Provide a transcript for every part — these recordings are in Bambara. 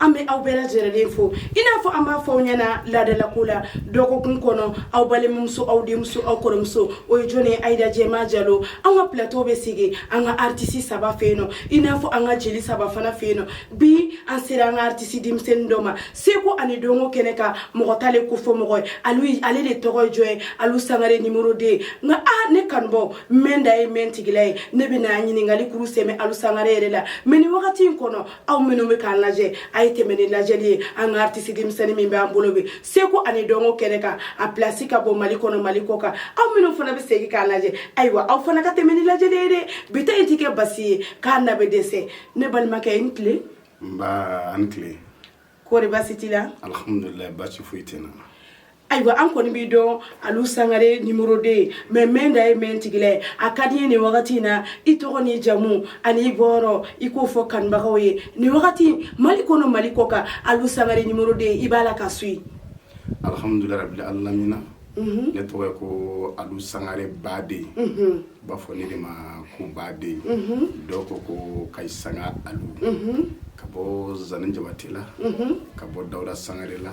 an bɛ aw bɛɛ lajɛlen fo i n'a fɔ an b'a fɔ aw ɲɛna laadalako la dɔgɔkun kɔnɔ aw balimamuso aw denmuso aw kɔrɔmuso o ye jɔn ye ayida jɛma jalo an ka plateau bɛ sigi an ka aritisi saba fɛ yen nɔ i n'a fɔ an ka jeli saba fana fɛ yen nɔ bi an sera an ka aritisi denmisɛnnin dɔ ma seko ani dɔnko kɛnɛ kan mɔgɔ t'ale ko fɔ mɔgɔ ye ale de tɔgɔ ye jɔn ye alu sangare numéro deux nka aa ne kanubaw mɛn da ye mɛn tigila ye ne bɛna ɲininkali kuru sɛmɛ alu sangare yɛrɛ la mais nin wagati in kɔnɔ aw minnu bɛ k'an lajɛ a ye tɛmɛ ni lajɛli ye an ka aritisi denmisɛnnin min b'an bolo bi seko ani dɔnko kɛnɛ kan a pilasi ka bon mali kɔnɔ mali kɔ kan aw minnu fana bɛ segin k'an lajɛ ayiwa aw fana ka tɛmɛ ni lajɛli ye dɛ bi ta in ti kɛ basi ye k'a na bɛ dɛsɛ ne balimakɛ i ni tile nba a ni tile kɔri basi t'i la alhamdulilayi basi foyi tɛ n na ayiwa an kɔni b'i dɔn alu sangare numéro deux mais mɛn da ye mɛn tigila ye a ka di n ye nin wagati in na i tɔgɔ ni jamu ani i bɔyɔrɔ i k'o fɔ kanubagaw ye nin wagati mali kɔnɔ mali kɔ kan alu sangare numéro deux i b'a la ka suivre alhamdulilayi rabbil alamina ne tɔgɔ ye ko alu sangare baden U b'a fɔ ne de ma ko baden dɔw ko ko kayisanga alu ka bɔ zani jabate la ka bɔ dawuda sangare la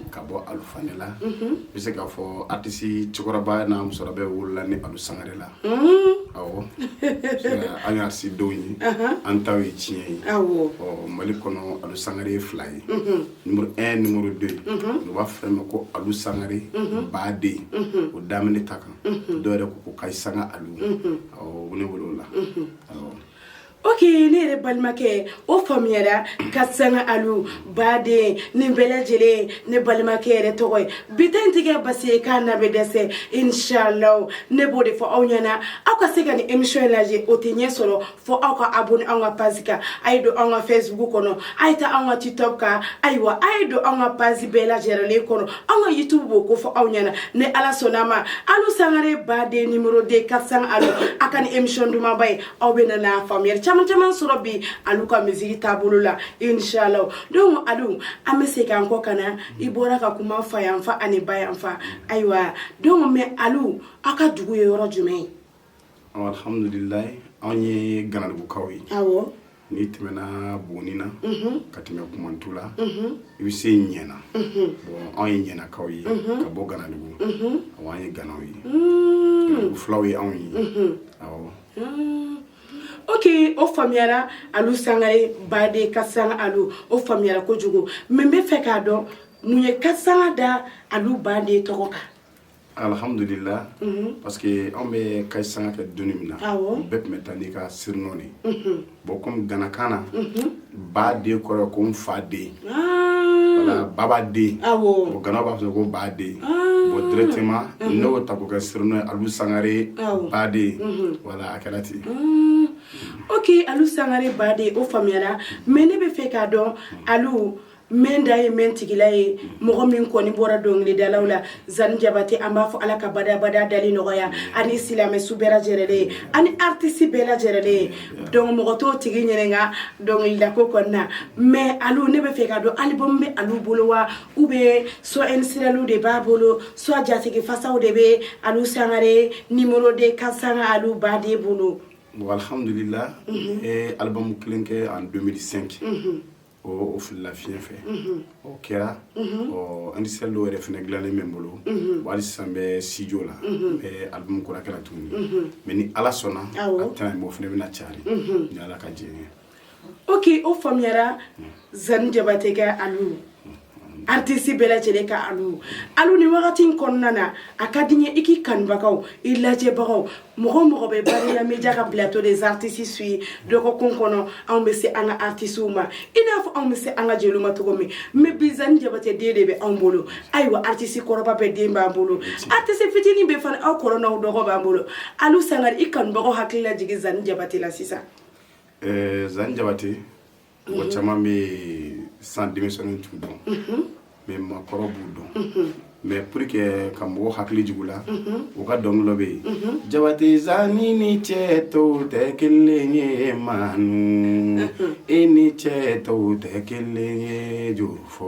ka bɔ alu fane la bɛ se k'a fɔ aritisi cɛkɔrɔba n'a musokɔrɔba bɛɛ wolola ni alu sangare la ɔ an y'a si dɔw ye an taw ye tiɲɛ ye ɔ mali kɔnɔ alu sangare ye fila ye numéro un numéro deux u b'a fɔ ne ma ko alu sangare baden o daminɛ ta kan dɔw yɛrɛ ko ko kayisanga alu awɔ ne bolo o la awɔ ok ne yɛrɛ balimakɛ o faamuyara kayisanga alu baden nin bɛɛ lajɛlen ne balimakɛ yɛrɛ tɔgɔ ye bi ta in ti kɛ basi ye k'a na bɛ dɛsɛ inshallah ne b'o de fɔ aw ɲɛna aw ka se ka nin émission in lajɛ o tɛ ɲɛ sɔrɔ fo aw ka abonné anw ka page kan a ye don anw ka facebook kɔnɔ a ye taa anw ka tiktok kan ayiwa a ye don anw ka page bɛɛ lajɛlen kɔnɔ anw ka youtube b'o ko fɔ aw ɲɛna ni ala sɔnna ma alu sangare baden numéro deux kayisanga alu a ka nin émission dumanba ye aw bɛna na faamuyali caman caman sɔrɔ bi alu ka musique taabolo la inshallah donc alu an bɛ segin an kɔ ka na i bɔra ka kuma fa yanfan ani ba yanfan ayiwa donc mais alu aw ka dugu ye yɔrɔ jumɛn ye alhamdulillah anw ye ganadugukaw ye awɔ n'i tɛmɛna buguni na ka tɛmɛ kumantu la i bɛ se ɲɛna bon anw ye ɲɛnakaw ye ka bɔ ganadugu awɔ an ye ganaw ye ganadugu fulaw ye anw ye awɔ ok o faamuyara alu sangare baden kayisanga alu o faamuyara kojugu mais n b'a fɛ k'a dɔn mun ye kayisanga da alu baden tɔgɔ kan Alihamdulila parce que anw bɛ case sanga kɛ don min na bɛɛ tun bɛ taa n'i ka surnom de bon comme ganakan na baden kɔrɔ ko n fa den baba den o ganaw b'a fɔ ko baden o directement ne y'o ta k'o kɛ surnom ye alu sangare baden voilà a kɛra ten ok alu sangare baden o faamuyara mais ne bɛ fɛ k'a dɔn alu Mɛ da ye mɛ tigila ye mɔgɔ min kɔni bɔra dɔnkilidalaw la zani jabate an b'a fɔ ala ka bada dalen nɔgɔya ani silamɛ su bɛɛ lajɛlen ye ani artiste bɛɛ lajɛlen ye donc mɔgɔ t'o tigi ɲininka dɔnkilida ko kɔnɔna na mais alu ne bɛ fɛ k'a dɔn album bɛ alu bolo wa ou bien soit single de b'a bolo soit jatigi fasaw de bɛ alu sangare numéro deux case sanga alu baden bolo bon alihamdulila album kelen kɛ en deux mille cinq o filila fiɲɛ fɛ o kɛra ɔ ani single dɔw yɛrɛ fana dilannen bɛ n bolo wa hali sisan n bɛ studio la n bɛ album kura kɛra tuguni mais ni ala sɔnna a tɛna mɛɛn o fana bɛna cari ni ala ka jɛn ye ok o faamuyara zani jabate ka alu artiste bɛɛ lajɛlen ka alu alu ni wagati in kɔnɔna na a ka di n ye i k'i kanubagaw i lajɛbagaw mɔgɔ mɔgɔ bɛ bariya media ka plateau des artistes suivre dɔgɔkun kɔnɔ anw bɛ se an ka artistes ma i n'a fɔ anw bɛ se an ka jeliw ma cogo min mais bi zani jabate den de bɛ anw bolo ayiwa artiste kɔrɔba bɛɛ den b'an bolo artiste fitinin bɛɛ fana aw kɔrɔ n'aw dɔgɔ b'an bolo alu sangare i kanubagaw hakili lajigin zani jabate la sisan ɛɛ zani jabate mɔgɔ caman bɛ san denmisɛnninw t'u dɔn mais maakɔrɔ b'u dɔn mais pour que ka mɔgɔ hakili jigin u la u ka dɔnkili dɔ bɛ yen jabate zani ni cɛ tɔw tɛ kelen ye manu e ni cɛ tɔw tɛ kelen ye juru fɔ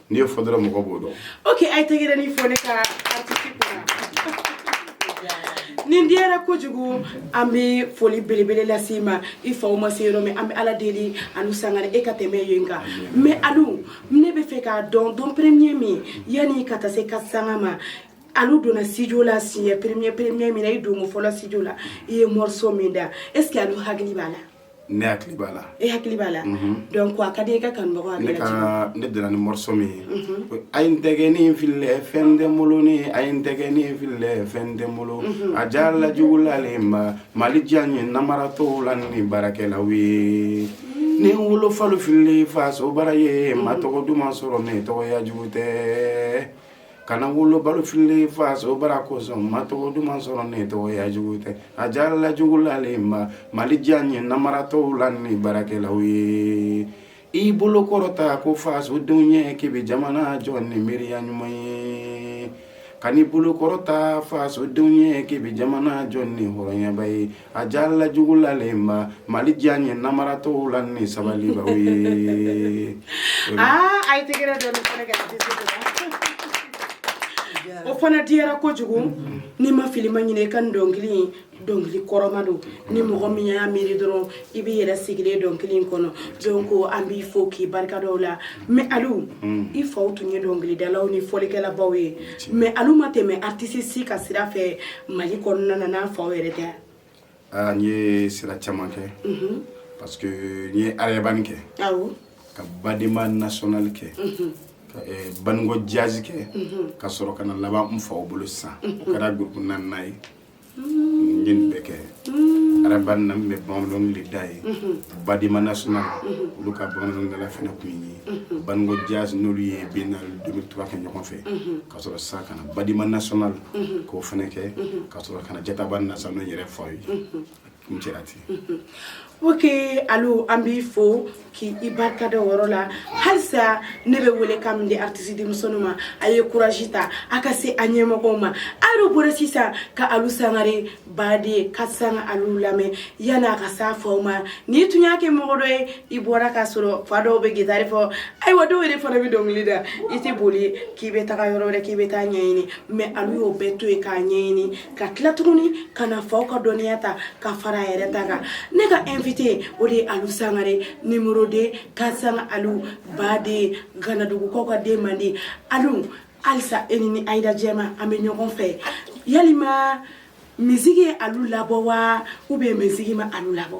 n'i y'o fɔ dɔrɔn mɔgɔ b'o dɔn ok a ye tɛgɛrɛnin fɔ ne ka artiste kunna nin diyara kojugu an bɛ foli belebele lase i ma i faw ma se yɔrɔ min an bɛ ala deli alu sangare e ka tɛmɛ yen kan mais alu ne bɛ fɛ k'a dɔn don premier min yanni ka taa se case sanga ma alu donna studio la siɲɛ premier premier min na i donko fɔlɔ studio la i ye morceau min da est ce que alu hakili b'a la Ne hakili b'a la e hakili b'a la donc a ka di i ka kanubagaw hakili ne donna ni morceau min ye a ye n tɛgɛnin filɛ fɛn tɛ n bolo ni a ye n tɛgɛnin filɛ fɛn tɛ n bolo a diyara la jugulalenba mali diya n ye namaratɔw la ni baarakɛlaw ye ni wolo falen fili fasobaara ye ma tɔgɔ duman sɔrɔ ne tɔgɔya jugu tɛ kana wolobalu fili faso baara kosɔn ma tɔgɔ duman sɔrɔ ne tɔgɔ ya jugu tɛ a jalala jugulalenba mali diya n ye namaratɔw la ni baarakɛlaw ye i bolo kɔrɔta ko fasodenw ye k'i bɛ jamana jɔ ni miiriya ɲuman ye ka n'i bolo kɔrɔta fasodenw ye k'i bɛ jamana jɔ ni hɔrɔnyaba ye A jalala jugulalen ma mali diya n ye namaratɔ la ni sabaliba ye o fana diyara kojugu ni n ma fili n ma ɲinɛ i ka dɔnkili ye dɔnkili kɔrɔma don ni mɔgɔ min y'a miiri dɔrɔn i b'i yɛrɛ sigilen dɔnkili kɔnɔ donc an b'i fɔ k'i barika da o la Mais alu i faw tun ye dɔnkilidalaw ni fɔlikɛlabaw ye mais alu ma tɛmɛ artiste si ka sira fɛ mali kɔnɔna na n'a faw yɛrɛ tɛ aa n ye sira caman kɛ parce que n ye rail band kɛ ka badema national kɛ ka baniko jazz kɛ ka sɔrɔ ka na laban n faw bolo sisan o kɛra groupe naaninan ye n ye nin bɛɛ kɛ rail band na n bɛ bamananw de da yen badema national olu ka bamananwdala fana tun ye baniko jazz n'olu ye biennale 2003 kɛ ɲɔgɔn fɛ ka sɔrɔ sa ka na badema national k'o fana kɛ ka sɔrɔ ka na djata band na sa n'o yɛrɛ faw ye n cɛra ten ok alu an b'i fo k'i barika da o yɔrɔ la halisa ne bɛ welekan min di artiste denmisɛnninw ma a ye courage ta a ka se a ɲɛmɔgɔw ma a bɔra sisan ka alu sangare baden ka sanga alu lamɛn yanni a ka s'a faw ma n'i tun y'a kɛ mɔgɔ dɔ ye i bɔra k'a sɔrɔ fa dɔw bɛ gitari fɔ ayiwa dɔw yɛrɛ fana bɛ dɔnkili da i tɛ boli k'i bɛ taga yɔrɔ wɛrɛ k'i bɛ taa ɲɛɲini mais alu y'o bɛɛ to yen k'a ɲɛɲini ka tila tuguni ka na faw ka dɔnniya ta ka fara a yɛrɛ ta kan ne ka invité o de ye alu sangare numéro 2 kansanga alu baden ganadugukaw ka den mandi alu halisa e ni ni ayida jɛma an bɛ ɲɔgɔn fɛ yalima musique ye alu labɔ wa ou bien musique ma alu labɔ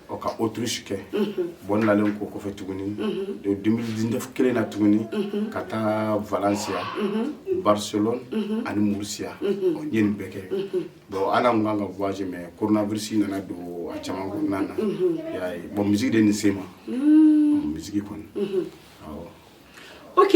ɔ ka autriche kɛ bon n nalen kɔ o kɔfɛ tuguni 2019 kelen na tuguni ka taa valencia barcelone ani murcia ɔ n ye nin bɛɛ kɛ bon ala n kan ka voyager mais coronavirus nana don a caman kɔnɔna na y'a ye bon musique de nin se ma musique kɔni awɔ ok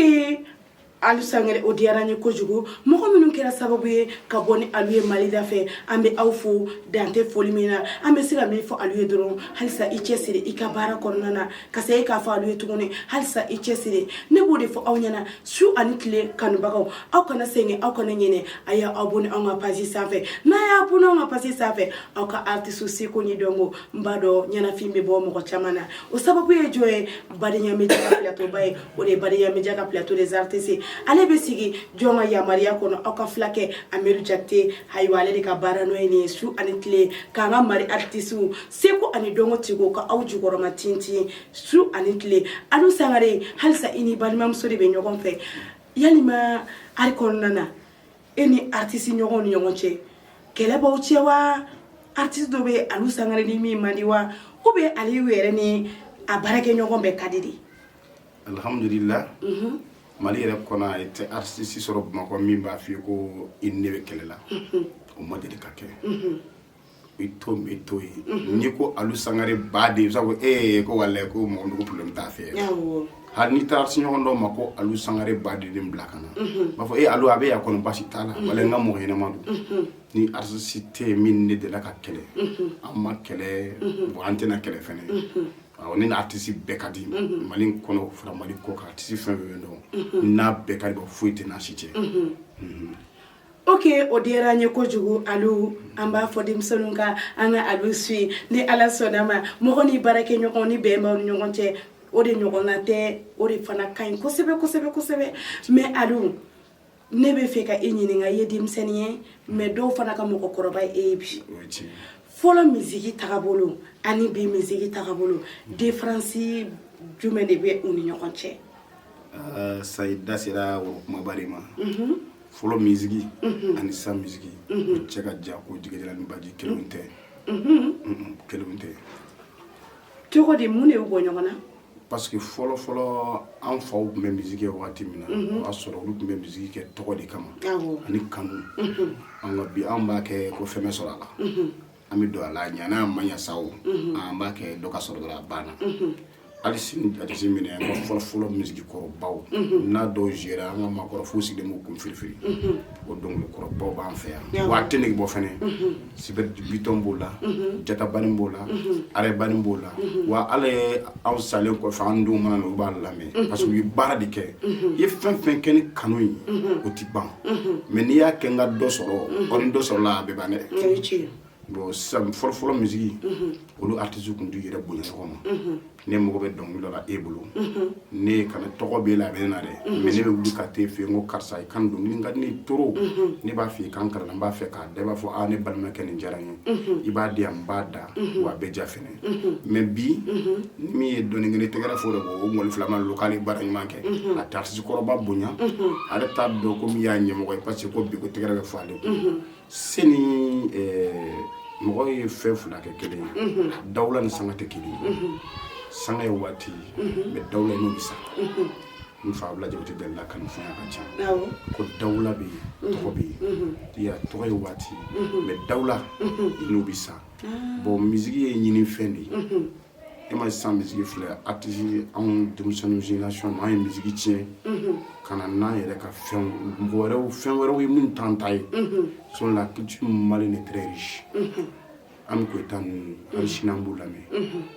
alu sangare o diyara n ye kojugu mɔgɔ minnu kɛra sababu ye ka bɔ ni alu ye mali da fɛ an bɛ aw fo dan tɛ foli min na an bɛ se ka min fɔ alu ye dɔrɔn halisa i cɛ siri i ka baara kɔnɔna na ka se e k'a fɔ alu ye tuguni halisa i cɛ siri ne b'o de fɔ aw ɲɛna su ani tile kanubagaw aw kana sɛgɛn aw kana ɲinɛ a y'aw abonner anw ka page sanfɛ n'a y'a abonner anw ka page sanfɛ aw ka artiste seko ni dɔnko n b'a dɔn ɲɛnafin bɛ bɔ mɔgɔ caman na o sababu ye jɔn ye badenya musique plateauba ye o de ye Badenya Media ka plateau des artistes ye ale bɛ sigi jɔn ka yamaruya kɔnɔ aw ka fulakɛ Amidu Jakite ayiwa ale de ka baara nɔ ye nin ye su ani tile k'an ka Mali artistes seko ani dɔnko tigiw ka aw jukɔrɔma tintin su ani tile Alu Sangare halisa i ni balimamuso de bɛ ɲɔgɔn fɛ yalima art kɔnɔna na e ni artiste ɲɔgɔnw ni ɲɔgɔn cɛ kɛlɛ b'aw cɛ wa artiste dɔ bɛ Alu Sangare ni min man di wa ou bien Alu yɛrɛ ni a baarakɛɲɔgɔn bɛɛ ka di de alhamdulillah mali yɛrɛ kɔnɔ a tɛ artisi sɔrɔ bamakɔ min b'a f'i ye ko i ne bɛ kɛlɛ la o ma deli ka kɛ i to bɛ to yen n'i ko alu sangare ba de ye sabu e ye ko wala ko mɔgɔ nugu problème t'a fɛ hali n'i taa artisi ɲɔgɔn dɔw ma ko alu sangare ba de den bila ka na b'a fɔ e alu a bɛ yan kɔnɔ basi t'a la wala n ka mɔgɔ ɲɛnama don ni artisi tɛ yen min ne delila ka kɛlɛ an ma kɛlɛ ban an tɛna kɛlɛ fɛnɛ ne ni artisi bɛɛ ka di mali kɔnɔ fara mali kɔkan artisi fɛn bɛ bɛ dɔn n'a bɛɛ ka di bɔ foyi tɛ n'a si cɛ oke o diyara an ye kojugu alu an b'a fɔ denmisɛnninw ka an ka alu suivi ni ala sɔnna ma mɔgɔ ni baarakɛɲɔgɔn ni bɛn b'aw ni ɲɔgɔn cɛ o de ɲɔgɔnna tɛ o de fana ka ɲi kosɛbɛ kosɛbɛ kosɛbɛ mɛ alu ne bɛ fɛ ka e ɲininka i ye denmisɛnnin ye mɛ dɔw fana ka mɔgɔkɔrɔba e ye bi fɔlɔ misiki tagabolo ani bi misiki tagabolo diferansi jumɛn de bɛ u ni ɲɔgɔn cɛ ah, sa i da sera o kumaba de ma mhm. fɔlɔ misiki mhm. ani sa misiki mhm. cɛ ka jan ko jigijala ni baji kelen tɛ kelen tɛ cogo di mun de y'u bɔ ɲɔgɔn na parce que fɔlɔ fɔlɔ an faw tun bɛ misiki kɛ wagati min na mhm. o y'a sɔrɔ olu tun bɛ misiki kɛ tɔgɔ de kama ani kanu mhm. nka bi an b'a kɛ ko fɛn bɛ sɔrɔ a la mhm. an bɛ don a la a ɲana a ma ɲa sa o an b'a kɛ dɔ ka sɔrɔ dɔrɔn a banna halisa n'i y'a jate minɛ an ka fɔlɔ fɔlɔ misiki kɔrɔbaw n'a dɔw zuwera an ka maakɔrɔw fo u sigilen b'u kun firifiri o dɔnkili kɔrɔbaw b'an fɛ yan wa a tɛ nege bɔ fɛnɛ Super Biton b'o la Djata Band b'o la Rail Band b'o la walayi anw salen kɔfɛ an denw mana na u b'a lamɛn parce que u ye baara de kɛ i ye fɛn fɛn kɛ ni kanu ye o ti ban mɛ n'i y'a kɛ n ka dɔ sɔrɔ ɔ ni dɔ sɔrɔla a bɛ ban dɛ bon sisan fɔlɔfɔlɔ misigi olu artisi tun t'u yɛrɛ bonya ɲɔgɔn ma ne mago bɛ dɔnkili la e bolo ne kana tɔgɔ b'e la a bɛ na dɛ mɛ ne bɛ wuli ka t'e fɛ yen ko karisa i ka dɔnkili ka di ne ye trop ne b'a fɛ i ka n kalan n b'a fɛ k'a da i b'a fɔ aa ne balimakɛ nin diyara n ye i b'a di yan n b'a da wa a bɛ diya fɛnɛ mɛ bi ni min ye dɔnni kelen tɛgɛrɛ fɔ o de ko o mɔli filama lo k'ale baara ɲuman kɛ a tɛ artisi kɔrɔba bonya ale t'a dɔn ko min y'a ɲɛmɔgɔ ye parce que ko bi ko tɛgɛrɛ bɛ fɔ ale kun Se ni mɔgɔ ye fɛn fila kɛ kelen ye dawula ni sanga tɛ kelen ye sanga ye waati mais dawula i n'o bɛ sa n fa Abdulaye Jabate b'a la kanufɛn ka ca ko dawula bɛ yen tɔgɔ bɛ yen tɔgɔ ye waati mais dawula i n'o bɛ sa bon misiki ye ɲininfɛn de ye e mais sisan misiki filɛ artiste anw denmisɛnninw génération anw ye misiki tiɲɛ ka na n'an yɛrɛ ka fɛn mɔgɔ wɛrɛw fɛn wɛrɛw ye minnu t'an ta ye sinon la culture malienne est très riche an bɛ ko e tan ninnu hali sini an b'u lamɛn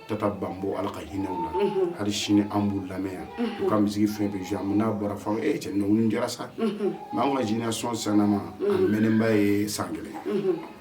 tata banbo ala ka hinɛ u la hali sini an b'u lamɛn yan u ka misiki fɛn bɛ an n'a bɔra fɔ e cɛ nin diyara sa nka an ka génération san ma a mɛnnenba ye san kelen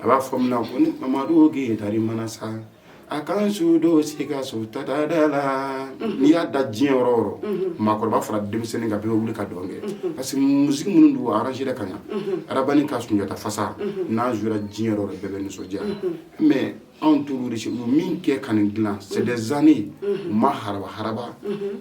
a b'a fɔ min na ko ni Mamadu Gitari mana sa a ka n su don sikaso tata da la n'i y'a da diɲɛ yɔrɔ o yɔrɔ maakɔrɔba fara denmisɛnnin kan bɛɛ bɛ wuli ka dɔn kɛ parce que musique minnu don a arrangéra ka ɲa Rail Band ka sunjata fasa n'a jouera diɲɛ yɔrɔ o yɔrɔ bɛɛ bɛ nisɔndiya mais anw t'olu de min kɛ ka nin dilan c'est des années u ma haraba haraba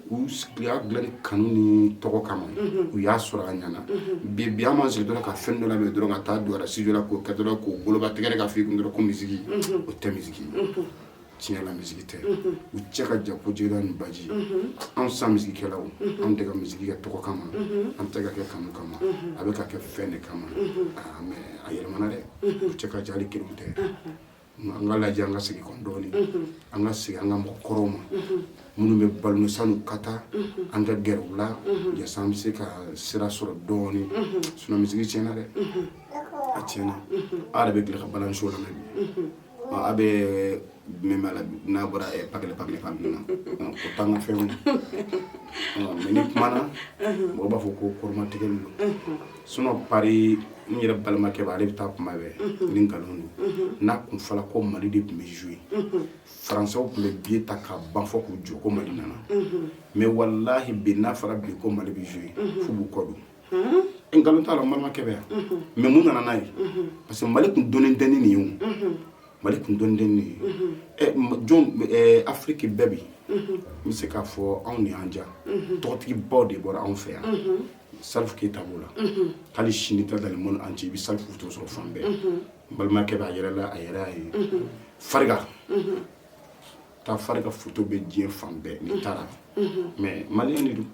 u y'a dilan ni kanu ni tɔgɔ kama u y'a sɔrɔ a ɲana bi bi an ma sigi dɔrɔn ka fɛn dɔ lamɛn dɔrɔn ka taa don studio la k'o kɛ dɔrɔn k'o boloba tɛgɛrɛ ka f'i kun dɔrɔn ko misiki o tɛ misiki tiɲɛ la misiki tɛ u cɛ ka jan ko jigida ni baji anw san misikikɛlaw anw tɛ ka misiki kɛ tɔgɔ kama an tɛ ka kɛ kanu kama a bɛ ka kɛ fɛn de kama mais a yɛlɛmana dɛ u cɛ ka jan hali kelen tɛ An ka lajɛ an ka segin kɔ dɔɔnin an ka segin an ka mɔgɔ kɔrɔw ma minnu bɛ balo san'u ka taa an ka gɛrɛ u la yasa an bɛ se ka sira sɔrɔ dɔɔnin sinon misiki tiɲɛna dɛ a tiɲɛna ala bɛ gɛlɛya ka balaso la aw bɛ min b'a la n'a bɔra pa pa fan min na o t'an ka fɛn mais n'i kumana mɔgɔ b'a fɔ ko kɔrɔmatigɛ don sinon Paris n yɛrɛ balimakɛ b'a ale bɛ taa kuma bɛɛ ni nkalon don n'a tun fɔla ko mali de tun bɛ jouer faransɛw tun bɛ billet ta ka ban fɔ k'u jɔ ko mali nana mais walahi bi n'a fɔra bi ko mali bɛ jouer f'u b'u kɔ don nkalon t'a la n balimakɛ bɛ yan mais mun nana n'a ye parce que mali tun dɔnnen tɛ ni nin ye o mali tun dɔnnen tɛ ni nin ye ɛ jɔn afiriki bɛɛ bi n bɛ se k'a fɔ anw de y'an ja tɔgɔtigibaw de bɔra anw fɛ yan salifu keyita b'o la hali sini ta dans le monde entier i bɛ salifu foto sɔrɔ fan bɛɛ n balimakɛ b'a yɛrɛ la a yɛrɛ y'a ye fariga ta fariga foto bɛ diɲɛ fan bɛɛ n'i taara mais maliyɛn de don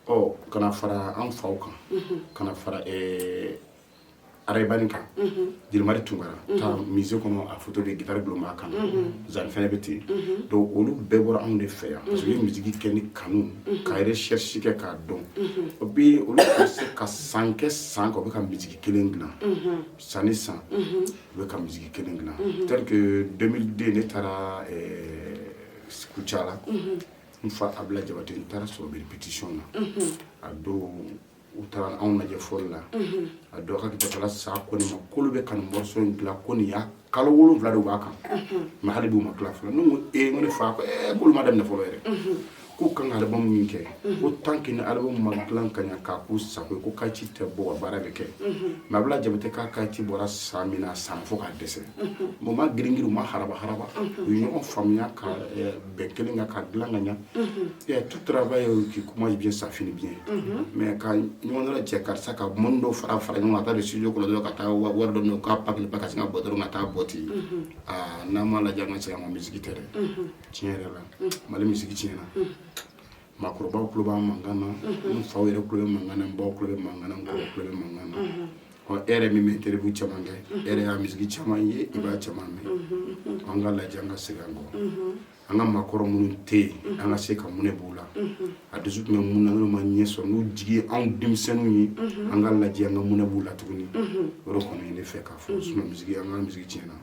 ɔ ka na fara an faw kan ka na fara ɛɛ arayibani ka jelimadi tunkara taa musée kɔnɔ a foto de gitari dulon b'a kan zani fɛnɛ bɛ ten donc olu bɛɛ bɔra anw de fɛ yan parce que u ye misiki kɛ ni kanu ka recherche kɛ k'a dɔn o bi olu tun bɛ se ka san kɛ san kan u bɛ ka misiki kelen dilan san ni san u bɛ ka misiki kelen dilan tel que 2002 ne taara kucala n fa abila jabate n taara sɔrɔ u bɛ répétition na a don u taara anw lajɛ fɔli la a dɔ ka kitala sa ko ne ma k'olu bɛ ka nin morceau in dilan ko nin y'a kalo wolonwula de b'a kan mais hali bi u ma tila fɔlɔ ne ko ee ko ne fa ko ee k'olu ma daminɛ fɔlɔ yɛrɛ k'u kan ka alibamu min kɛ ko tant que ni alibamu ma dilan ka ɲa k'a k'u sago ye ko kasɛti tɛ bɔ ka baara bɛ kɛ mais abila jabate ka kasɛti bɔra san min na a san fo ka dɛsɛ mais u ma girin girin u ma haraba haraba u ye ɲɔgɔn faamuya ka bɛn kelen kan k'a dilan ka ɲa et tout travail qui commence bien ça finit bien mais ka ɲɔgɔn dɔ cɛ karisa ka mɔni dɔ fara fara ɲɔgɔn kan ka taa don studio kɔnɔ dɔrɔn ka taa wari dɔ minɛ k'a pakili pa ka sin ka bɔ dɔrɔn ka taa bɔ ten aa n'an m'a lajɛ an ka segin an kɔ misiki tɛ dɛ tiɲɛ yɛrɛ la mali misiki tiɲɛna maakɔrɔbaw tulo b'an mankan na n faw yɛrɛ tulo bɛ mankan na n baw tulo bɛ mankan na n kɔrɔw tulo bɛ mankan na ɔ e yɛrɛ min bɛ interview caman kɛ e yɛrɛ y'a misiki caman ye i b'a caman mɛn an ka lajɛ an ka segin an kɔ an ka maakɔrɔ minnu tɛ yen an ka se ka monɛ b'u la a dusu tun bɛ min na n'u m'a ɲɛ sɔrɔ n'u jigi ye anw denmisɛnninw ye an ka lajɛ an ka monɛ b'u la tuguni o de kɔni ye ne fɛ k'a fɔ misiki an ka misiki tiɲɛna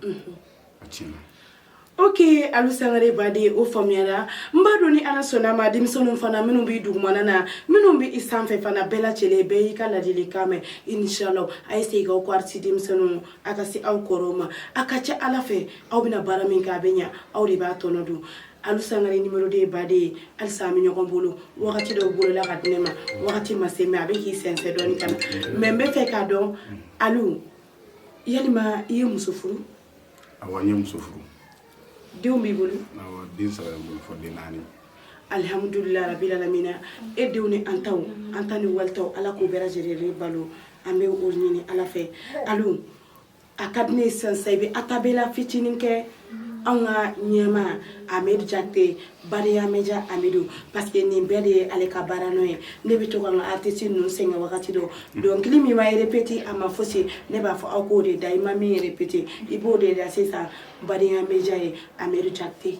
Oke alu sangare baden o faamuyara n b'a dɔn ni ala sɔnna ma denmisɛnninw fana minnu b'i dugumana na minnu bɛ i sanfɛ fana bɛɛ lajɛlen bɛɛ y'i ka ladilikan mɛn inisala a ye segin aw kɔ artiste denmisɛnninw a ka se aw kɔrɔw ma a ka ca ala fɛ aw bɛna baara min kɛ a bɛ ɲɛ aw de b'a tɔnɔ dun alu sangare numéro deux baden ye halisa an bɛ ɲɔgɔn bolo wagati dɔw bolola ka di ne ma wagati ma se mais a bɛ k'i sɛnsɛn dɔɔnin ka na mais n bɛ fɛ k'a dɔn alu yalima i ye muso furu awɔ n ye muso furu denw b'i bolo awɔ den saba bɛ n bolo fɔ den naani alihamudulila rabila lamina e denw ni an taw an ta ni wali taw ala k'o bɛɛ lajɛlen balo an bɛ o ɲini ala fɛ alu a ka di ne ye sisan sisan i bɛ acapella fitinin kɛ anw ka ɲɛmaa amadu jakite bariya média amadu parce que nin bɛɛ de ye ale ka baara nɔ ye ne bɛ to ka n ka artiste ninnu sɛgɛn wagati dɔ dɔnkili min ma répété a ma fosi ne b'a fɔ aw k'o de da i ma min répété i b'o de da sisan bariya média ye amadu jakite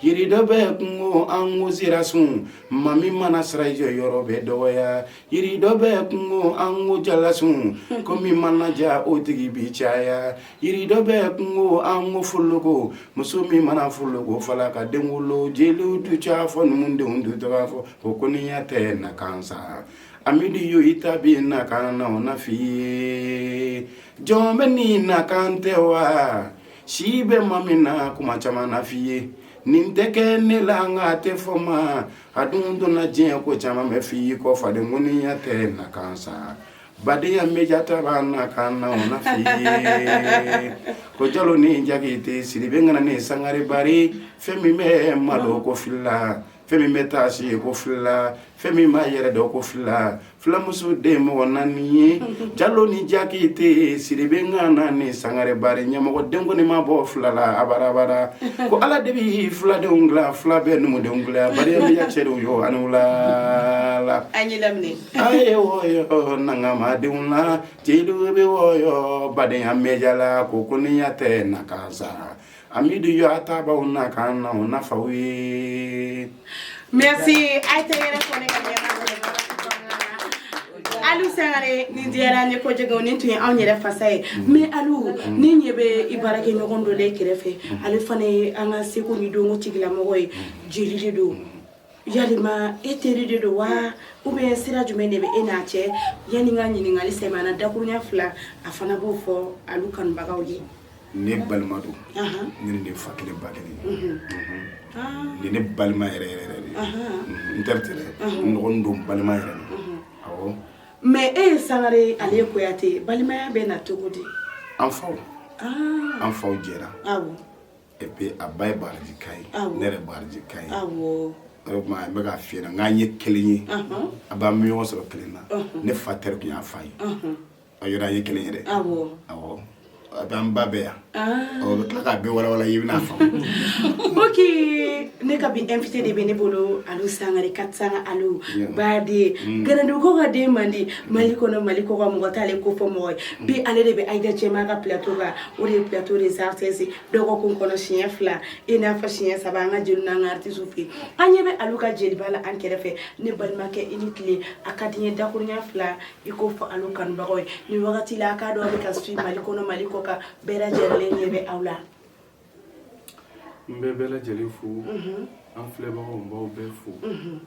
Yiri dɔ bɛ kungo an ko sira sun maa min mana siran jɔyɔrɔ bɛ dɔgɔya yiri dɔ bɛ kungo an ko jalasun ko min mana diya o tigi bi caya yiri dɔ bɛ kungo an ko foloko muso min mana foloko fala ka den wolo jeliw du ca fɔ numudenw du tɔgɔ fɔ o koniya tɛ nakan sa Amidu yo i ta b'i nakan na o n'a f'i ye jɔn bɛɛ n'i nakan tɛ wa si bɛ maa min na kuma caman na f'i ye nin tɛ kɛ ne la nka tɛ fɔ maa dun donna diɲɛ ko caman bɛ f'i ye ko faden koniya tɛ nakan sa badenya média ta b'a nakan na o n'a f'i ye ko jalo ni jakite siribe ŋana ni sangare bari fɛn min bɛ malo ko fila fɛn min bɛ taasi ko fila fɛn min b'a yɛrɛ dɔn ko fila filamuso den mɔgɔ naani ye jalo ni jakite siribe ŋana ni sangare bari ɲɛmɔgɔ den kɔni ma bɔ fila la abarabara ko ala de bɛ filadenw dilan fila bɛ numudenw dilan badenya média cɛdenw yo aw ni wula la a ye wɔyɔ nakanmadenw na jeliw bɛ wɔyɔ badenya média la ko koniya tɛ nakan sa Amidu yo a ta b'a nakan na o n'a f'a ye mɛ a tɛ yɛrɛ fɔ Alu sangare nin diyara n ye kojugu nin tun ye anw yɛrɛ fasa ye mais Alu n ɲɛ bɛ i baarakɛɲɔgɔn dɔ l'i kɛrɛfɛ ale fana ye an ka seko ni dɔnko tigilamɔgɔ ye jeli de don Yalima e teri de don wa ou bien sira jumɛn de bɛ e n'a cɛ yanni n ka ɲininkali sɛmɛna dakurunya fila a fana b'o fɔ Alu kanubagaw ye ne balima don ne de fa kelen ba kelen ni ne balima yɛrɛ yɛrɛ n teri tɛ dɛ don balima yɛrɛ awɔ mais e ye sangare ale ye kuyate balimaya bɛ na cogo di an faw an faw jɛra et puis a ba ye baraji ka ye ne yɛrɛ baraji ka ye o tuma n bɛ k'a f'i ɲɛ na k'an ye kelen ye a b'an bɛ ɲɔgɔn sɔrɔ kelen na ne fa teri tun y'a fa ye a yɔrɔ an ye kelen yɛrɛ awɔ a bɛ an ba bɛɛ yan ɔ bɛ tila k'a bɛɛ walawala i bɛna faamu ok ne ka bi invité de bɛ ne bolo Alu Sangare Katisanga Alu baden mm. Ganadugu ka den mandi Mali kɔnɔ Mali kɔkan mɔgɔ t'ale ko fɔ mɔgɔ ye bi ale de bɛ Aïda Cɛma ka plateau kan o de ye plateau des artistes dɔgɔkun kɔnɔ siɲɛ fila i n'a fɔ siɲɛ saba an ka jeliw n'an ka artistes fɛ an ɲɛ bɛ alu ka jeliba la an kɛrɛfɛ ne balimakɛ i ni tile a ka di n ye dakuruɲɛ fila i k'o fɔ alu kanubagaw ye nin wagati la a k'a dɔn aw bɛ ka suivre mali kɔnɔ mali kɔkan bɛɛ lajɛlen ɲɛ bɛ aw la n bɛ bɛɛ lajɛlen fo mhm. an filɛbagaw n b'aw bɛɛ fo mhm.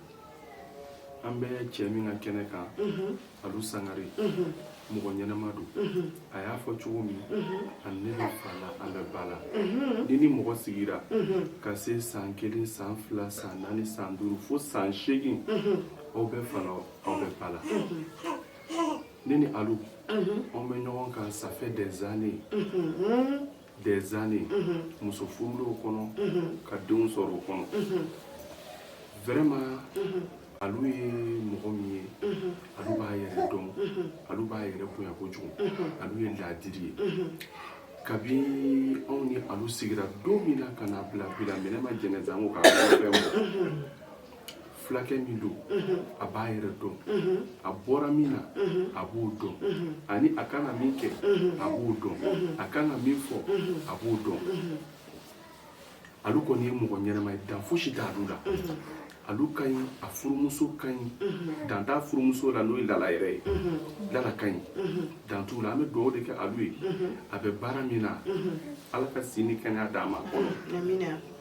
an bɛ cɛ min ka kɛnɛ kan mhm. alu sangare mɔgɔ ɲɛnama don a y'a fɔ cogo min a ni ne bɛ fa la an bɛ ba la n'i ni mɔgɔ sigira ka se san kelen san fila san naani san duuru fo san seegin aw bɛ fa la aw bɛ ba la ne ni alu an bɛ ɲɔgɔn kan ça fait des années des années muso furula o kɔnɔ ka denw sɔrɔ o kɔnɔ vraiment alu ye mɔgɔ min ye alu b'a yɛrɛ dɔn alu b'a yɛrɛ bonya kojugu alu ye laadiri ye kabi anw ni alu sigira don min na ka n'a bila bi la mais ne ma jɛnɛza n ko k'a fɛn bɔ fulakɛ min don a b'a yɛrɛ dɔn a bɔra min na a b'o dɔn ani a kan ka min kɛ a b'o dɔn a kan ka min fɔ a b'o dɔn alu kɔni ye mɔgɔ ɲɛnama ye dan fosi t'alu la alu ka ɲi a furumuso ka ɲi dan t'a furumuso la n'o ye lala yɛrɛ ye lala ka ɲi dan t'u la an bɛ dugawu de kɛ alu ye a bɛ baara min na ala ka si ni kɛnɛya d'a ma awɔ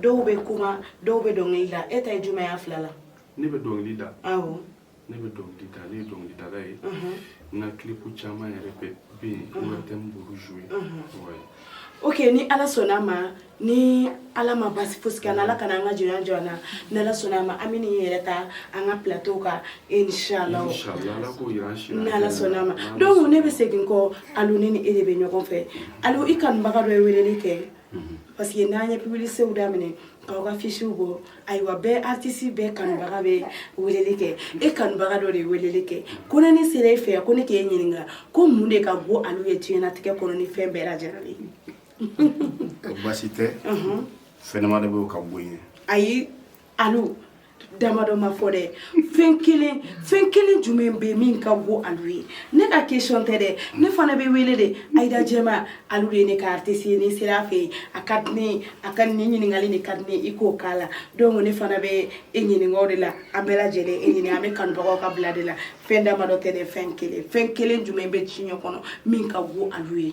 dɔw bɛ kuma dɔw bɛ dɔnkili da e ta ye jumɛn y'a fila la ne bɛ dɔnkili da awɔ ne bɛ dɔnkili da ne ye dɔnkilidala ye n ka kilipu caman yɛrɛ bɛ bɛ yen ORTM b'olu jouer ouais. ok ni ala sɔnna a ma ni ala ma basi fosi kɛ ala kana an ka jɔnya jɔ an na ni ala sɔnna a ma an bɛ nin yɛrɛ ta an ka plateau kan inshallah Inch'Allah, Ala k'o yira an si la. ni ala sɔnna a ma donc ne bɛ segin kɔ alu ne ni e de bɛ ɲɔgɔn fɛ alu i kanubaga dɔ ye weleli kɛ parce que n'an ye publicitéw daminɛ k'aw ka afisiw bɔ ayiwa bɛɛ artisi bɛɛ kanubaga bɛ weleli kɛ e kanubaga dɔ de ye weleli kɛ ko ni ne sera e fɛ yan ko ne k'e ɲininka ko mun de ka go alu ye diɲɛnatigɛ kɔnɔ ni fɛn bɛɛ lajɛlen ye basi tɛ fɛn damadɔ b'o ka go n ye ayi alu damadɔ ma fɔ dɛ fɛn kelen fɛn kelen jumɛn bɛ min ka go alu ye ne ka question tɛ dɛ ne fana bɛ wele de Ayida Jɛma alu de ye ne ka artiste ye n'i sera a fɛ yen a ka di ne ye a ka nin ɲininkali de ka di ne ye i k'o k'a la donc ne fana bɛ e ɲininka o de la an bɛɛ lajɛlen e ɲininka an bɛ kanubagaw ka bila de la fɛn damadɔ tɛ dɛ fɛn kelen fɛn kelen jumɛn bɛ diɲɛ kɔnɔ min ka go alu ye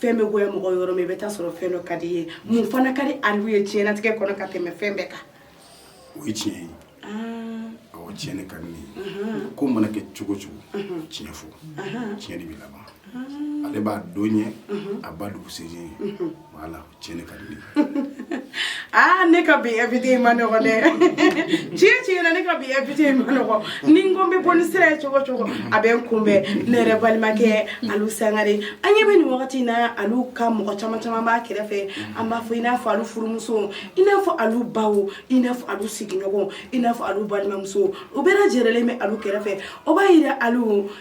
fɛn bɛ goya mɔgɔ yɔrɔ min i bɛ taa sɔrɔ fɛn dɔ ka di i ye mun fana ka di alu ye diɲɛlatigɛ kɔnɔ ka tɛmɛ fɛn bɛɛ kan o ye tiɲɛ ye ah. awɔ tiɲɛ de ka di ne ye ko mana kɛ cogo o cogo tiɲɛ fɔ tiɲɛ de bɛ laban ah. ale b'a don ɲɛ a ba dugusɛjɛ ye voilà tiɲɛ de ka di ne ye aa ne ka bi invité in ma nɔgɔ dɛ tiɲɛ tiɲɛ na ne ka bi invité in ma nɔgɔ ni n ko n bɛ bɔ ni sira ye cogo cogo a bɛ n kunbɛn ne yɛrɛ balimakɛ alu sangare an ɲɛ bɛ nin wagati in na alu ka mɔgɔ caman caman b'a kɛrɛfɛ an b'a fɔ i n'a fɔ alu furumusow i n'a fɔ alu baw i n'a fɔ alu sigiɲɔgɔnw i n'a fɔ alu balimamusow u bɛɛ lajɛlen bɛ alu kɛrɛfɛ o b'a yira alu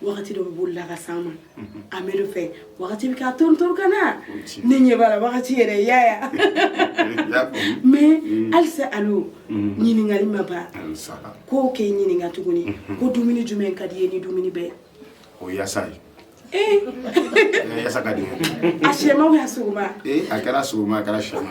wagati dɔ bɛ boli la ka s'an ma a mɛ dɔ fɛ wagati bɛ k'a torontoron ka na ne ɲɛ b'a la wagati yɛrɛ y'a ya mais halisa alu ɲininkali ma ban ko k'e ɲininka tuguni ko dumuni jumɛn ka di i ye ni dumuni bɛɛ o yasa ye yasa ka di a sɛma ou a sogoma a kɛra sogoma a kɛra sɛma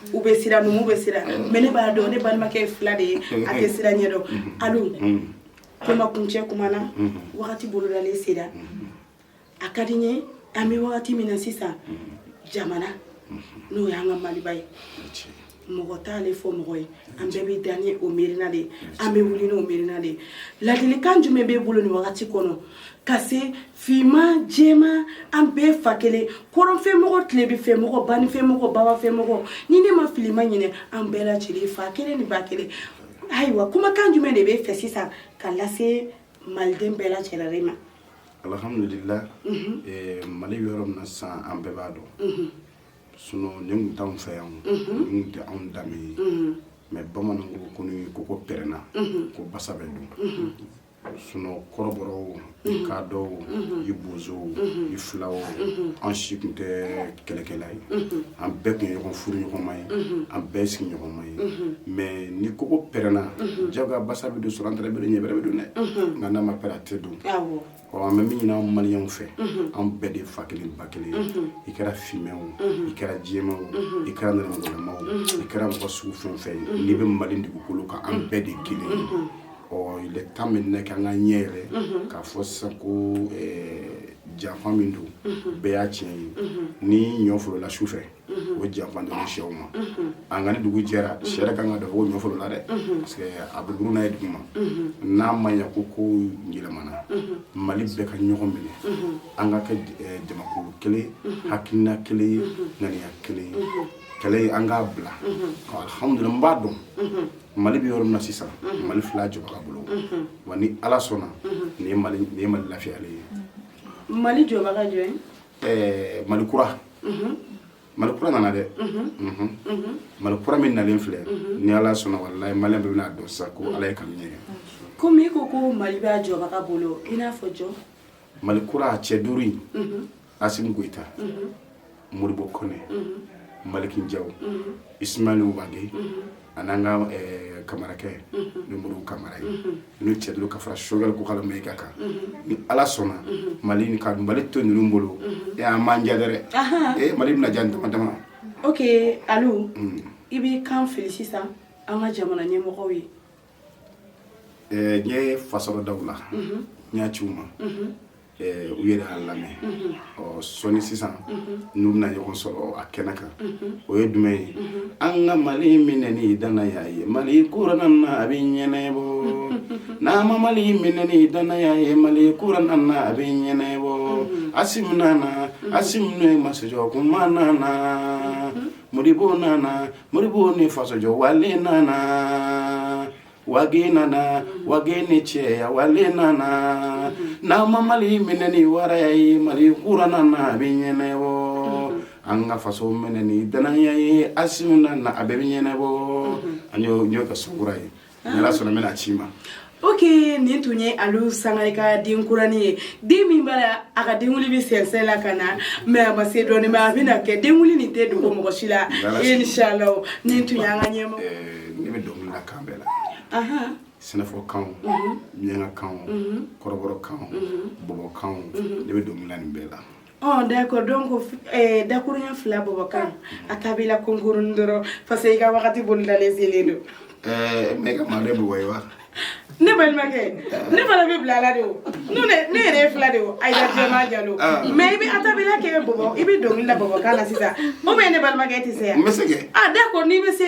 u bɛ siran numu bɛ siran mais ne b'a dɔn ne balimakɛ ye fila de ye a tɛ siran ɲɛ dɔn alu kuma kuncɛ kuma na wagati bolodalen sera a ka di n ye an bɛ wagati min na sisan jamana n'o y'an ka maliba ye mɔgɔ t'ale fɔ mɔgɔ ye an bɛɛ bɛ da ni o miirina de ye an bɛ wuli n'o miirina de ye ladilikan jumɛn b'e bolo nin wagati kɔnɔ ka se finman jɛman an bɛɛ fa kelen kɔrɔnfɛmɔgɔ tilebinfɛmɔgɔ baninfɛmɔgɔ babafɛmɔgɔ ni ne ma fili ma ɲinɛ an bɛɛ lajɛlen fa kelen ni ba kelen ayiwa kumakan jumɛn de b'e fɛ sisan ka lase maliden bɛɛ lajɛlen ma alhamdulila mali yɔrɔ min na sisan an bɛɛ b'a dɔn sinon nin tun t'an fɛ yan nin tɛ anw danbe ye mais bamananw ko ni kogo pɛrɛnna ko basa bɛ don sinon kɔrɔbɔrɔw i kadɔw i bozow i filaw an si tun tɛ kɛlɛkɛla ye an bɛɛ tun ye ɲɔgɔn furuɲɔgɔnma ye an bɛɛ sigiɲɔgɔnma ye mais ni kogo pɛrɛnna jagoya basa bɛ don surantɛrɛ bɛ don ɲɛbɛrɛ bɛ don dɛ nka n'a ma pɛrɛn a tɛ don ɔ an bɛ min ɲini an maliyɛnw fɛ an bɛɛ de fa kelen ba kelen i kɛra finman o i kɛra jɛman o i kɛra nɛrɛmugulama o i kɛra mɔgɔ sugu fɛn o fɛn ye n'i bɛ mali dugukolo kan an bɛɛ de kelen ye il est temps maintenant k'an ka ɲɛ yɛlɛ k'a fɔ sisan ko janfa min don bɛɛ y'a tiɲɛ ye ni ɲɔ folola su fɛ o janfa don sɛw ma nka ni dugu jɛra sɛ ka kan k'a dɔn ko ɲɔ folola dɛ parce que a bɛ buruna ye dugu ma n'a ma ɲɛ ko kow yɛlɛmana mali bɛɛ ka ɲɔgɔn minɛ an ka kɛ jamakulu kelen hakilina kelen ye ŋaniya kelen ye kɛlɛ ye an k'a bila alhamdulila n b'a dɔn mali bɛ yɔrɔ min na sisan mali filɛ a jɔbaga bolo wa ni ala sɔnna nin ye mali nin ye mali lafiyalen ye mali jɔbaga jɔn ye ɛɛ mali kura mali kura nana dɛ mali kura min nalen filɛ ni ala sɔnna walayi maliyɛn bɛɛ bɛn'a dɔn sisan ko ala ye kanu ɲɛ komi i ko ko mali b'a jɔbaga bolo i n'a fɔ jɔn mali kura cɛ duuru in asimi goyita moribo kɔnɛ maliki jaw ismail wage an'an ka eh, kamarakɛ ni moribo kamara ye n'u cɛ duuru ka fara sogɛl kokala mayiga kan ni ala sɔnna mali ni ka mali to ninnu bolo e a ma diya dɛrɛ e mali bɛna diya dama dama ok alu i b'i kan fili sisan an ka jamana ɲɛmɔgɔw ye n ye fasa dɔ da u la n y'a ci u ma u yɛrɛ y'a lamɛn ɔ sɔɔni sisan n'u bɛna ɲɔgɔn sɔrɔ a kɛnɛ kan o ye jumɛn ye an ka mali minɛ ni danaya ye mali kura nana a bɛ ɲɛnɛbɔ n'an ma mali minɛ ni danaya ye mali kura nana a bɛ ɲɛnɛbɔ asimi nana asimi n'o ye masajɔ kuma nana moribo nana moribo ni fasojɔ wale nana wage nana wage ni cɛya wale nana n'an ma mali minɛ ni waraya ye mali kura nana a bɛ ɲɛnɛbɔ an ka faso minɛ ni danaya ye asimi nana a bɛɛ bɛ ɲɛnɛbɔ an y'o ka sukura ye N'ala sɔnna n bɛn'a ci u ma ok nin tun ye alu sangare ka denkuranin ye den min b'a la a ka denwili bɛ sɛnsɛn la ka na mɛ a ma se dɔɔnin a bɛ na kɛ denwili nin tɛ dogo mɔgɔ si la inshallah nin tun y'an ka ɲɛma ne bɛ dɔnkili la kan bɛɛ la sɛnɛfɔkan miyanka kan kɔrɔbɔrɔ kan bɔbɔkan ne bɛ dɔnkili la nin bɛɛ la Ɔ d'accord donc dakurunɲɛ fila bɔbɔkan a ta b'i la ko kurunin dɔrɔn parce que i ka wagati bolodalen selen don ɛɛ ne ka manden bɛ wa wa ne balimakɛ ne fana bɛ bila ala de o ne yɛrɛ ye fila de o ayida jɛma jalo mɛ i bɛ atabila kɛ bɔbɔ i bɛ dɔnkili la bɔbɔkan na sisan ou bien ne balimakɛ tɛ se yan n bɛ se a d'accord n'i bɛ se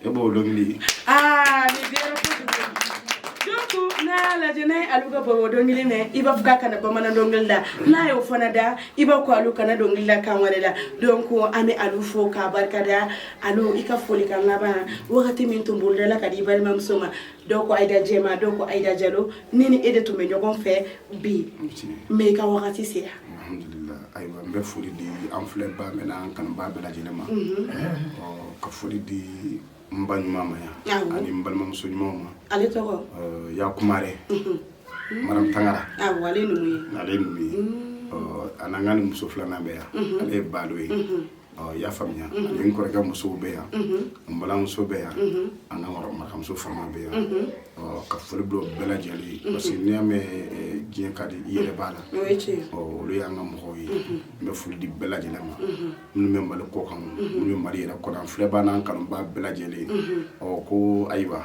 e b'o dɔnkili ye aa nin diyara kojugu donc n'a y'a lajɛ n'a ye alu ka bɔbɔ dɔnkili mɛn i b'a fɔ k'a kana bamanan dɔnkili la n'a y'o fana da i b'a ko alu kana dɔnkili la kan wɛrɛ la donc an bɛ alu fo k'a barikada alu i ka folikan laban wagati min tun bolodala ka di i balimamuso ma dɔw ko ayida jɛma dɔw ko ayida jalo ne ni e de tun bɛ ɲɔgɔn fɛ bi mɛ i ka wagati sera alhamdulillah ayiwa n bɛ foli di an filɛbaa bɛɛ n'an kanubaa bɛɛ lajɛlen ma ka foli di n ba ɲuman ma yan ani n balimamuso ɲumanw ma ale tɔgɔ ya kumare maram tangara awɔ ale numu ye ale numu ye an'an ka numuso filanan bɛ yan ale ye balo ye i y'a faamuya ani n kɔrɔkɛ musow bɛ yan n balimamuso bɛ yan an ka marakamuso fama bɛ yan ka foli bila bɛɛ lajɛlen ye parce que n'i y'a mɛn diɲɛ ka di i yɛrɛ b'a la olu y'an ka mɔgɔw ye n bɛ foli di bɛɛ lajɛlen ma minnu bɛ mali kɔkan minnu bɛ mali yɛrɛ kɔnɔ filɛbaa n'an kanubaa bɛɛ lajɛlen ɔ ko ayiwa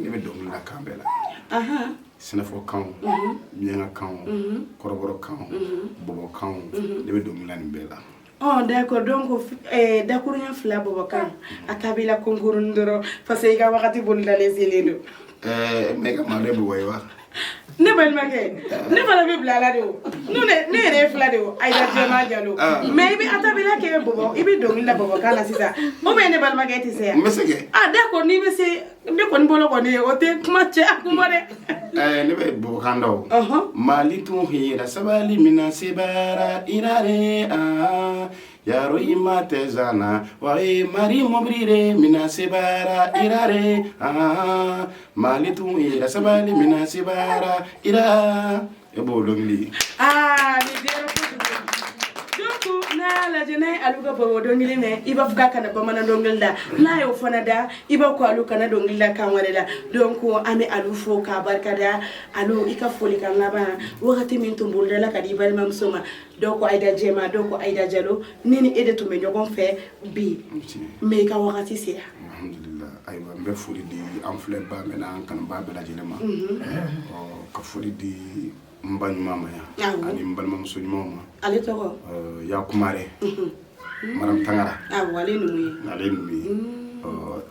ne bɛ dɔnkili la kan bɛɛ la sɛnɛfɔ kan miyanka kan kɔrɔbɔrɔ kan bɔbɔ kan ne bɛ dɔnkili la nin bɛɛ la ɔ d'accord donc eh, dakuruɲɛ fila bɔbɔ kan a cappella kunkurunnin dɔrɔn parce que i ka wagati bolodalen selen don eh, mais i ka mande bɔbɔ ye wa ne balimakɛ ne fana bɛ bila ala de o ne yɛrɛ ye fila de o ayida jɛma jalo mais i bɛ a cappella kɛ bɔbɔ i bɛ dɔnkili la bɔbɔkan na sisan ou bien ne balimakɛ tɛ se yan n bɛ se kɛ d'accord n'i bɛ se ne kɔni bolo kɔni ye o tɛ kuma cɛ a kuma dɛ ɛɛ ne bɛ bɔbɔkan dɔn mali tun hira sabali min na sebaara irare aa Yaro i ma tɛzsan na wa mari mɔbili minɛ se ire a mali tun yɛrɛ saba ni minɛ se ira e b'o dɔnkili aa n'a lajɛ ne alu ka bɔbɔ dɔnkili mɛn i b'a fɔ k'a kana bamanan dɔnkili la n'a y'o fana da i b'a ko alu kana dɔnkili la kan wɛrɛ la donc an bɛ alu fo k'a barikada alu i ka folikan laban wagati min tun bolodala ka di i balimamuso ma dɔw ko ayida jɛma dɔw ko ayida jalo ne ni e de tun bɛ ɲɔgɔn fɛ bi mais i ka wagati sera alhamdulillah ayiwa n bɛ foli di an filɛbaa bɛɛ n'an kanubaa bɛɛ lajɛlen ma ka foli di n ba ɲuman ma yan ani n balimamuso ɲumanw ma ale tɔgɔ ya kumare maram tangara awɔ ale ninnu ye ale ninnu ye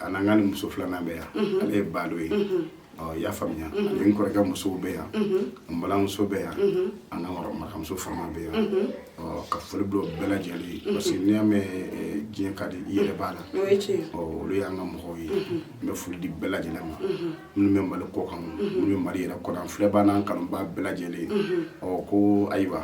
a n'an ka ni muso filanan bɛ yan ale ye balo ye ɔ i y'a faamuya ani n kɔrɔkɛ musow bɛ yan n balimamuso bɛ yan an ka ɔ marakamuso fama bɛ yan ɔ ka foli bila o bɛɛ lajɛlen ye parce que n'i y'a mɛn eh, diɲɛ ka di i yɛrɛ b'a la o ye tiɲɛ ye. ɔ olu y'an ka mɔgɔw ye n bɛ foli di bɛɛ lajɛlen ma minnu bɛ mali kɔkan minnu bɛ mali yɛrɛ kɔnɔ filɛbaa n'an kanubaa bɛɛ lajɛlen ɔ ko ayiwa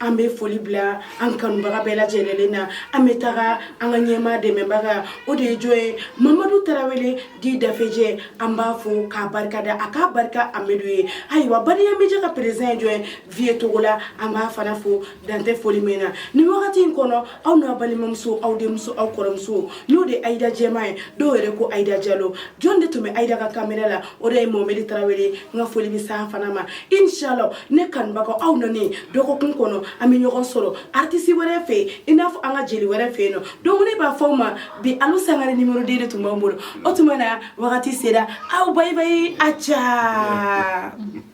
an bɛ foli bila an kanubaga bɛɛ lajɛlen na an bɛ taga an ka ɲɛmaa dɛmɛbaga o de ye jɔn ye mamadu tarawele dit dafejɛ an b'a fɔ k'a barika da a k'a barika amadu ye ayiwa baniya media ka président ye jɔn ye vye togola an b'a fana fo dan tɛ foli min na nin wagati in kɔnɔ aw n'a balimamuso aw denmuso aw kɔrɔmuso n'o de ayida jɛma ye dɔw yɛrɛ ko ayida jalo jɔn de tun bɛ ayida ka kamera la o de ye mohamɛdi tarawele n ka foli bɛ s'a fana ma inshallah ne kanubagaw aw nani dɔgɔkun kɔnɔ an bɛ ɲɔgɔn sɔrɔ artisi wɛrɛ fɛ yen i n'a fɔ an ka jeli wɛrɛ fɛ yen nɔ donc ne b'a fɔ aw ma bi alu sangare nimero deux de tun b'an bolo o tuma na wagati sera aw bayibayi a ca